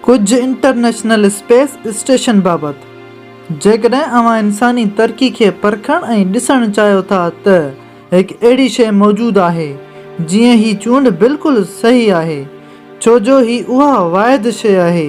ڪجهه international space station بابت، جيڪڏهن اوهان انساني ترقي کي پرکڻ ۽ ڏسڻ چاهيو ٿا ته. هڪ اهڙي شيء موجود آهي جيئن هي چونڊ بلڪل صحيح آهي ڇو جو هي اها واحد شيء آهي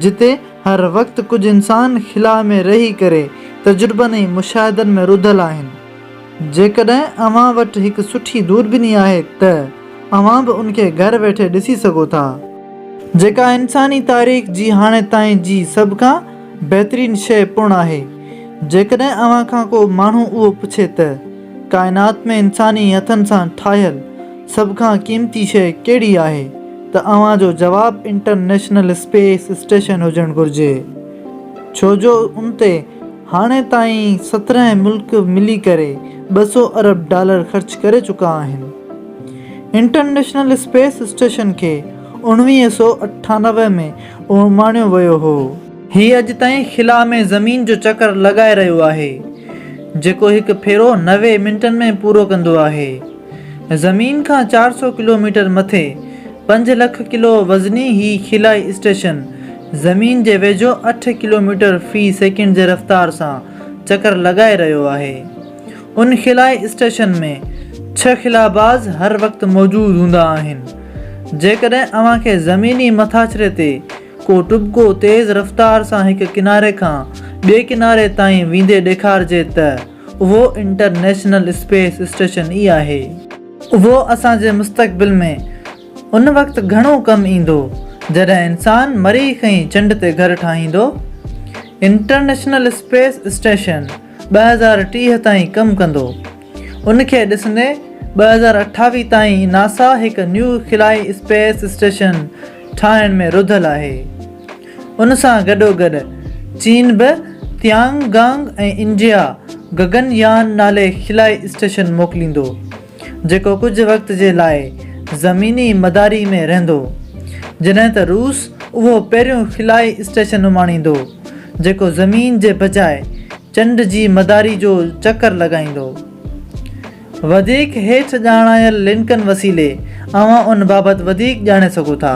جتي هر وقت ڪجهه انسان خلا ۾ رهي ڪري تجربن ۽ مشاهدن ۾ رڌل آهن جيڪڏهن اوهان وٽ هڪ سٺي دوربيني آهي ته اوهان به ان کي گهر ويٺي ڏسي سگهو ٿا. جيڪا انساني تاريخ جي هاڻي تائين جي سڀ کان بهترين شيء پڻ آهي. جيڪڏهن اوهان کان ڪو ماڻهو اهو پڇي ته، ڪائنات ۾ انساني هٿن سان ٺاهيل سڀ کان قيمتي شيء ڪهڙي آهي ته اوهان جو جواب انٽرنيشنل اسپيس اسٽيشن هجڻ گهرجي. ڇو جو ان تي هاڻي تائين سترهن ملڪ ملي ڪري ٻه سؤ ارب ڊالر خرچ ڪري چڪا آهن. انٽرنيشنل اسپيس اسٽيشن کي اوڻويهه سؤ اٺانوي ۾ اماڻيو ويو هو. هي اڄ تائين خلا ۾ زمين جو چڪر لڳائي رهيو آهي، جيڪو هڪ ڦيرو نوي منٽن ۾ پورو ڪندو آهي. زمين کان چار سؤ ڪلوميٽر مٿي، پنج لک ڪلو وزني هي خلائي اسٽيشن زمين جي ويجهو اٺ ڪلوميٽر في سيڪنڊ جي رفتار سان چڪر لڳائي رهيو آهي. ان خلائي اسٽيشن ۾ ڇهه خلاباز هر وقت موجود هوندا آهن. جيڪڏهن اوهان کي زميني مٿاڇري تي ڪو ٽٻڪو تيز رفتار سان هڪ ڪناري کان ٻئي ڪناري تائين ويندي ڏيکارجي ته اهو انٽرنيشنل اسپيس اسٽيشن ئي آهي. اهو اسان جي مستقبل ۾ ان وقت گهڻو ڪم ايندو جڏهن انسان مريخ ۽ چنڊ تي گهر ٺاهيندو. انٽرنيشنل اسپيس اسٽيشن ٻه هزار ٽيهه تائين ڪم ڪندو. ان کي ڏسندي ٻه هزار اٺاويهه تائين ناسا هڪ نيو خلائي اسپيس اسٽيشن ٺاهڻ ۾ رڌل آهي. ان سان گڏوگڏ چين به تيانگ گانگ ۽ انڊيا گگن يان نالي خلائي اسٽيشن موڪليندو، جيڪو ڪجهه وقت جي لاء زميني مداري ۾ رهندو، جڏهن ته روس اهو پهريون خلائي اسٽيشن اماڻيندو، جيڪو زمين جي بجاء چنڊ جي مداري جو چڪر لڳائيندو. وڌيڪ هيٺ ڄاڻايل لنڪن وسيلي اوهان ان بابت وڌيڪ ڄاڻي سگهو ٿا.